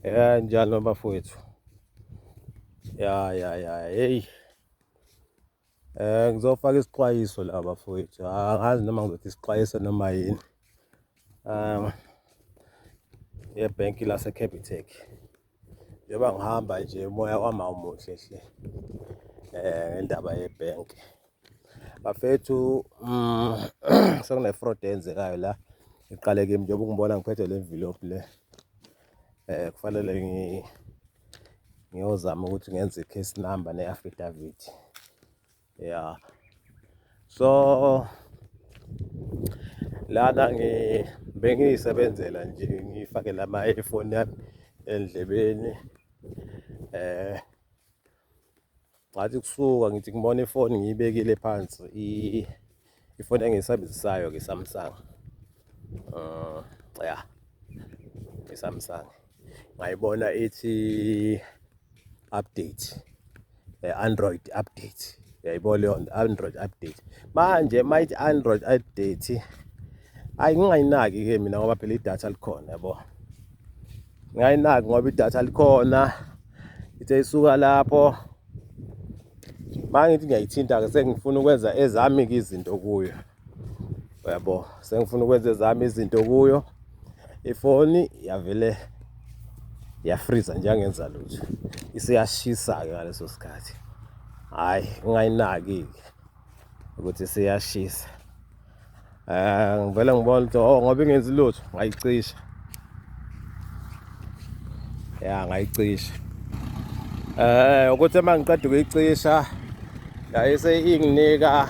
Ya njalo bafowethu. Ya ya ya hey. Eh ngizofaka isixwayiso la bafowethu. Ah, angazi noma ngizothi isixwayiso noma yini. Um yebhenki lase Capitec. Njengoba ngihamba nje umoya wami awumuhle hle. Eh ngendaba yebhenki. bafethu mm, sekunefraud eyenzekayo la iqale kimi njengoba ungibona ngiphethe le envelope le eh kufanele ngi ngiyozama ukuthi ngenze i-case number ne-affidavit ya so lana bengiyisebenzela nje ngifake lama earphone yami endlebeni eh ngathi kusuka ngithi ngibona ifoni ngiyibekile phansi ifoni engiyisebenzisayo ke Samsung uh, ya iSamsung ngayibona ithi update eh, Android update yayibona leyo Android update manje mayithi Android update ayi ngingayinaki ke mina ngoba phela idatha likhona yabo ngayinaki ngoba idatha likhona ithe isuka lapho mangithi ngiyayithinta-ke sengifuna ukwenza ezami-ke izinto kuyo uyabo sengifuna ukwenza ezami izinto kuyo ifoni yavele yafriza nje angenza lutho isiyashisa-ke ngaleso sikhathi hhayi ngingayinaki-ke ukuthi siyashisa Eh ngivele ngibona ukuthi oh ngoba ingenzi lutho ngayicisha. Ya ngayicisha. Eh ukuthi uma ngiqeda ukuyicisha yayise inginika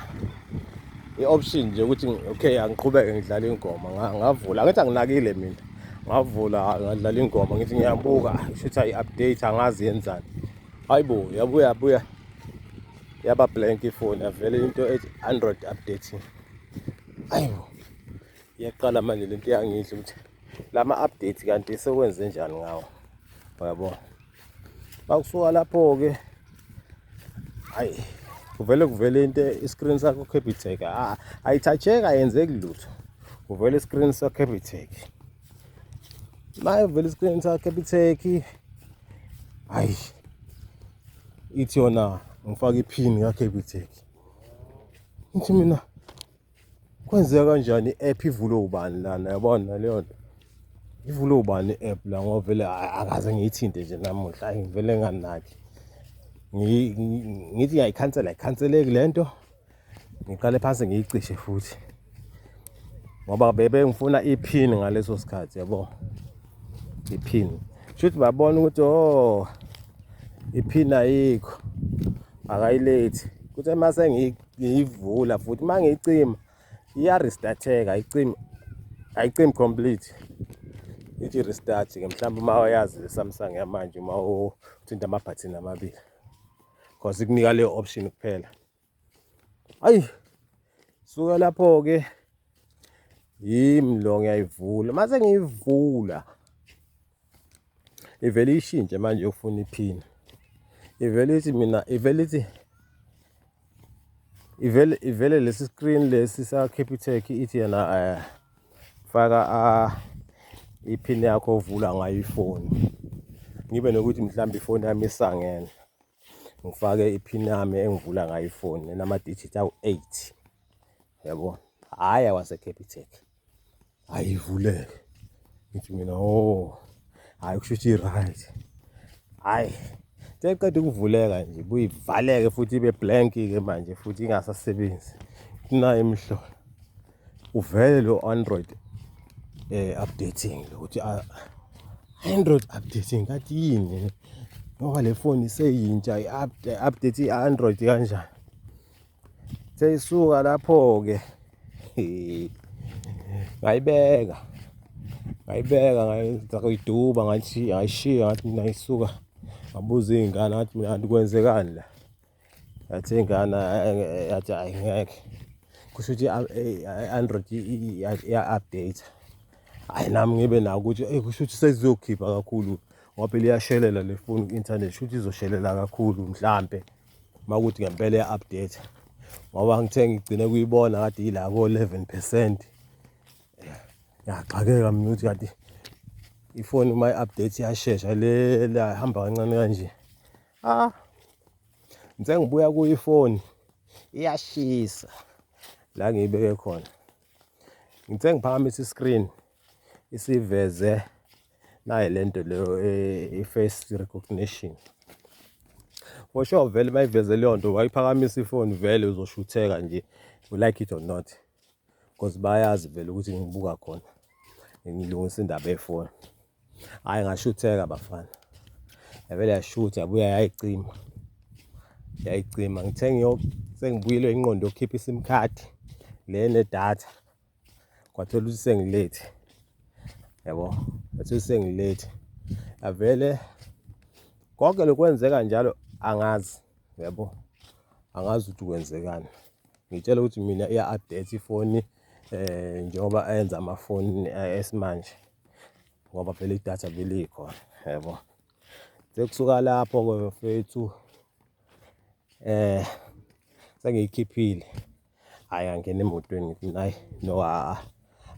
i-option nje ukuthi okay angiqhubeke ngidlale ingoma ngavula ngithi anginakile mina ngavula ngadlala ingoma ngithi ngiyabuka shutha i-update angazi yenzani hayibo yabuya buya yaba blank ifoni avele into ethi android updating ayibo iyaqala manje lento yangidla ukuthi lama update kanti sekwenze njani ngawo uyabo bakusuka lapho ke hayi kuvele kuvele into iscreen sakho capitec ah ayithatheka yenzeki lutho kuvele iscreen sakho capitec maye vele iscreen sakho capitec hayi ithi yona ngifake iphini kaCapitec ngithi mina kwenzeka kanjani i-app ivule ubani lana yabona leyo nto ivule ubani i-app la ngoba vele akaze ngiyithinte nje namuhla ayi ngivele nganaki ngithi ngiyayikhansela ayikhanseleki le nto ngiqale phansi ngiyicishe futhi ngoba bebe ngifuna iphini ngaleso sikhathi yabo iphini shuthi babona ukuthi oh iphini ayikho akayilethi kuthe uma sengiyivula futhi uma ngiyicima iya-restarteka ayicimi ayicimi complete ithi restart ke mhlawumbe uma wayazi le Samsung yamanje uma uthinta amabhathini amabili because ikunika leyo option kuphela ayi suka lapho-ke yimi lo ngiyayivula mase ngiyivula ivele ishintshe manje yokufuna iphini ivele ithi mina ivele ithi ivele ivele lesi screen lesi sa Capitec ithi yena eh, faka ah, iphini yakho ovula ngayo ifoni ngibe nokuthi mhlawumbe ifoni yami isangene ngifake iphini yami engivula ngayo ifoni enamadijithi awu-eight yabo hhayi awaseCapitec hhayi ivuleke ngithi mina o oh, hhayi kusho ukuthi i-right hhayi seqeda ukuvuleka nje buyivaleke futhi ibe blank-ke manje futhi ingasasebenzi kunayo imihlola uvele lo Android eh updating ukuthi ah, Android updating kathi yini ngoba le phone iseyintsha i-update i-Android kanjani seyisuka lapho-ke ngayibeka ngayibeka ngayiduba ngathi ngayishiya ngathi mina ngisuka ngabuza iy'ngane ngathi mina kanti kwenzekani la yathi ingane yathi ayi ngeke kusho ukuthi i-android iya-update hhayi nami ngibe nako ukuthi eyi kusho ukuthi sezizokhipha kakhulu ngoba phela iyashelela le foni ku-inthanethi kusho ukuthi izoshelela kakhulu mhlampe uma kuthi ngempela iya-update ngoba ngithe ngigcine kuyibona kade yila ko-eleven percent ngiyaxakeka mina ukuthi kanti ifoni uma i-update iyashesha le la ihamba kancane kanje ah ngithe ngibuya kuyifoni iyashisa la ngiyibeke khona ngithe ngiphakamisa i-screen isiveze naye le nto leyo eh, i-face recognition for sure vele uma iveze leyo nto wayiphakamisa ifoni vele uzoshutheka nje you like it or not because bayazi vele ukuthi ngibuka khona ngilungisa indaba yefoni Hhayi ngashutheka bafana. Yavele yashutha yabuya yayicima. Yayicima ngithe ngiyo sengibuyile inqondo yokukhipha iSIM card le nedatha. Kwathola ukuthi sengilethi. Yabo, kwathola sengilethi. Yavele konke lokwenzeka njalo angazi. Yabo. Angazi ukuthi kwenzekani. Ngitshela ukuthi mina iya-update ifoni eh njengoba enza amafoni eh, esimanje. ngoba phela idatha belikho yebo sekusuka lapho ke mfethu eh sengiyikhiphile hayi angena emotweni ngithi nayi no haa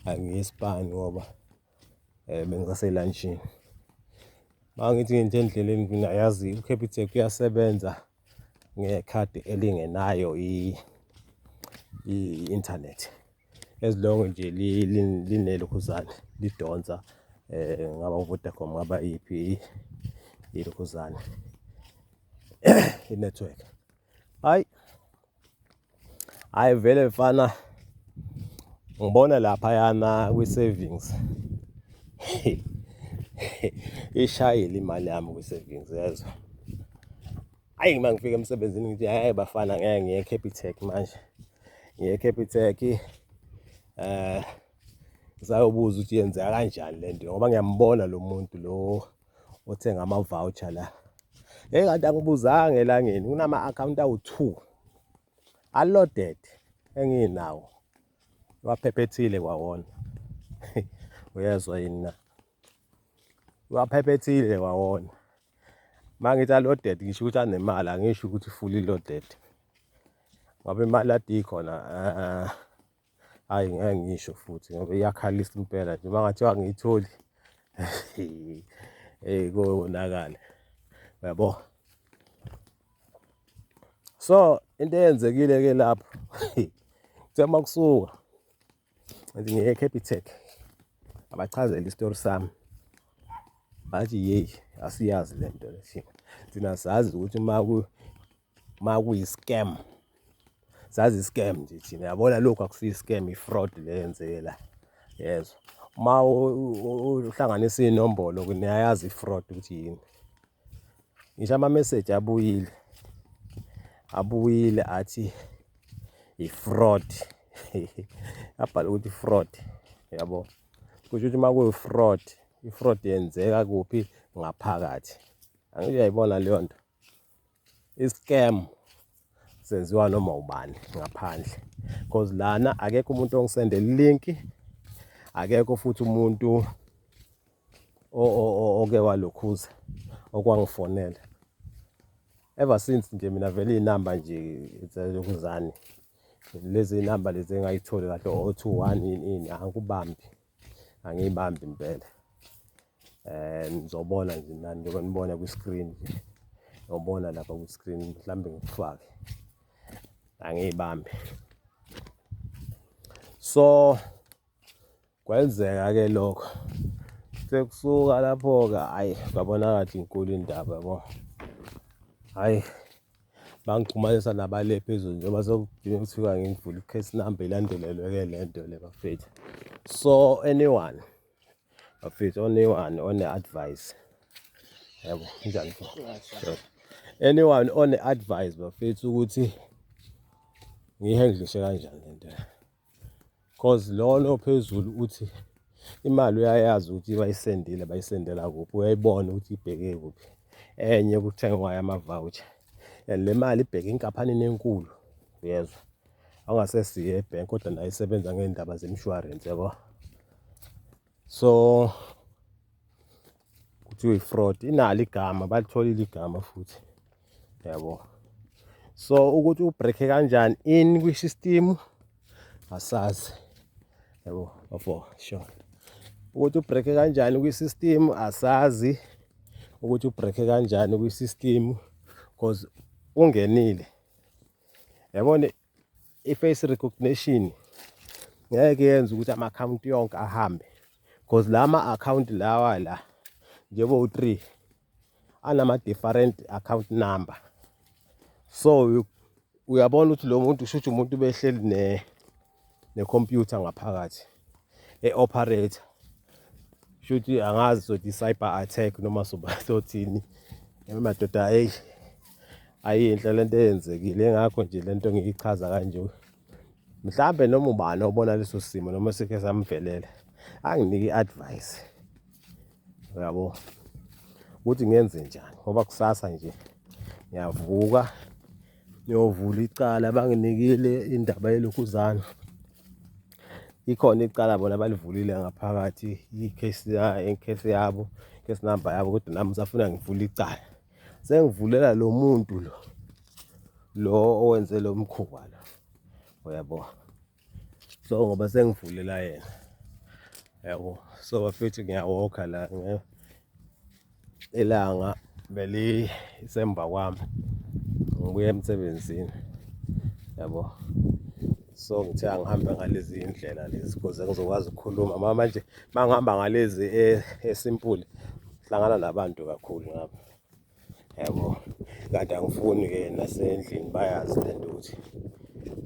angiyisibani ngoba eh bengisaselantshini mangithi ngithi endleleni mina yazi uCapitec uyasebenza ngekhadi elingenayo i-internet as long nje linelokhuzane lidonsa um ngaba uvodacom ngaba iyiphi ilokhuzane inetwork hhayi Hayi vele mfana ngibona lapha yana kwi savings. Ishayile imali yami kwi savings yezwa. Hayi uma ngifika emsebenzini ngithi hayi bafana ngeke ngiye Capitec manje. Ngiye Capitec eh ngisayobuza ukuthi yenzeka kanjani lento ngoba ngiyambona lo muntu lo othenga ama-voucher la hey kanti angibuzanga elangeni kunama-akhawunti awu-two aloded enginawo waphephethile kwawona uyezwa yini na waphephethile kwawona uma ngithi aloded ngisho ukuthi anemali angisho ukuthi fully loaded ngoba imali adiyi khona um hhayi ngeke ngisho futhi ngoba iyakhalisa impela nje uma ngathiwa ngiyitholi eyi konakale uyabo so into eyenzekile ke lapho kuthiwa uma kusuka ngithi ngiye ecapitec abachazela isitori sami bathi yeyi asiyazi le nto lethina thina sazi ukuthi uma uma kuyi-scam sazi i-scam nje thina yabona lokhu akusiyi-scam i-fraud le yenzeke la yezwa uma uhlanganisa iy'nombolo niyayazi i-fraud ukuthi yini ngisho ama-message abuyile abuyile athi i-fraud abhala ukuthi fraud yabo kusho ukuthi uma kuyi-fraud i-fraud yenzeka kuphi ngaphakathi angithi uyayibona leyo nto i-scam senziwa noma ubani ngaphandle because lana akekho umuntu ongisendela i-link akekho futhi umuntu oke walokhuza okwangifonela ever since nje mina vele iy'namba nje zalokuzani lezi namba lezi engayitholi kahle o-two one ini ini angikubambi angiyibambi impela um ngizobona nje nani njengoba nibona kwi-screen nje ngiyobona lapha kwi-screen mhlawumbe ngikufake angiyibambi so kwenzeka-ke lokho sekusuka lapho-ke hhayi kwabonakala inkulu indaba yabo hhayi bangixhumanisa nabale phezulu njengoba sekudinga kuthiwa ngivule i-case number ilandelelwe-ke le nto le bafethu so anyone bafethu anyone one-advice yabo njani anyone one-advice bafethu ukuthi ngiyihandlishe kanjani le nto Cause lona ophezulu uthi imali uyayazi ukuthi bayisendile bayisendela kuphi uyayibona ukuthi ibheke kuphi enye kuthengwayo ama-voucher and le mali ibheke enkampanini enkulu uyezwa angasesiye ebhenki kodwa nayo isebenza ngey'ndaba zemishwarensi yabo so kuthiwa i-fraud inalo igama balitholile igama futhi yabo so ukuthi ubreake kanjani in kwi-system asazi yabo bafo sure ukuthi ubreake kanjani kwi-system asazi ukuthi ubreake kanjani kwi-system because ungenile yabona i-face recognition ngeke yenze ukuthi ama-akhawunti yonke ahambe because la ma-akhawunti lawa la njengoba u-three anama-different account number so uyabona ukuthi lo muntu kusho ukuthi umuntu behleli ne-computer ngaphakathi e-operator shuthi angazi sothi cyber attack noma soba sothini madoda ayi ayinhle lento eyenzekile engakho nje lento ngiyichaza kanje mhlambe noma ubani obona leso simo noma sike samvelela anginike advice uyabo ukuthi ngenze njani ngoba kusasa nje ngiyavuka ngiyovula icala banginikile indaba yelokhuzana ikhona icala bona balivulile ngaphakathi i-case case yabo case number yabo kodwa nami usafuna ngivule icala sengivulela lo muntu lo lo owenze lo mkhuba lo uyabo so ngoba sengivulela yena yabo so bafethu ngiyawokha la ilanga belisemva kwami ngibuye emsebenzini yabo so ngithe angihambe ngalezi indlela lezi kuze ngizokwazi ukukhuluma mama manje mangihamba ngalezi e, esimpule hlangana nabantu kakhulu ngapha yabo kanti angifuni ke nasendlini bayazi lento ukuthi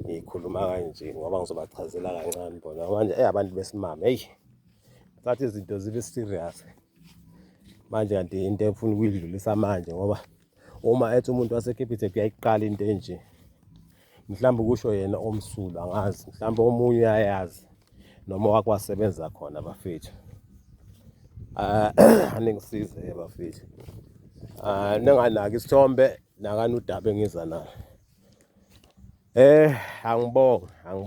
ngikhuluma kanje ngoba ngizobachazela kancane bona manje eyabantu besimame eyi sathi izinto zibe serious manje kanti into efuna ukuyidlulisa manje ngoba uma ethi umuntu waseCapitec uyayiqala into enje mhlawumbe kusho yena omsulu angazi mhlawumbe omunye uyayazi noma wakwasebenza khona bafethu ah, aningisize bafethu ah, ninganaki isithombe nakani udaba engiza nayo eh angibonge angibonge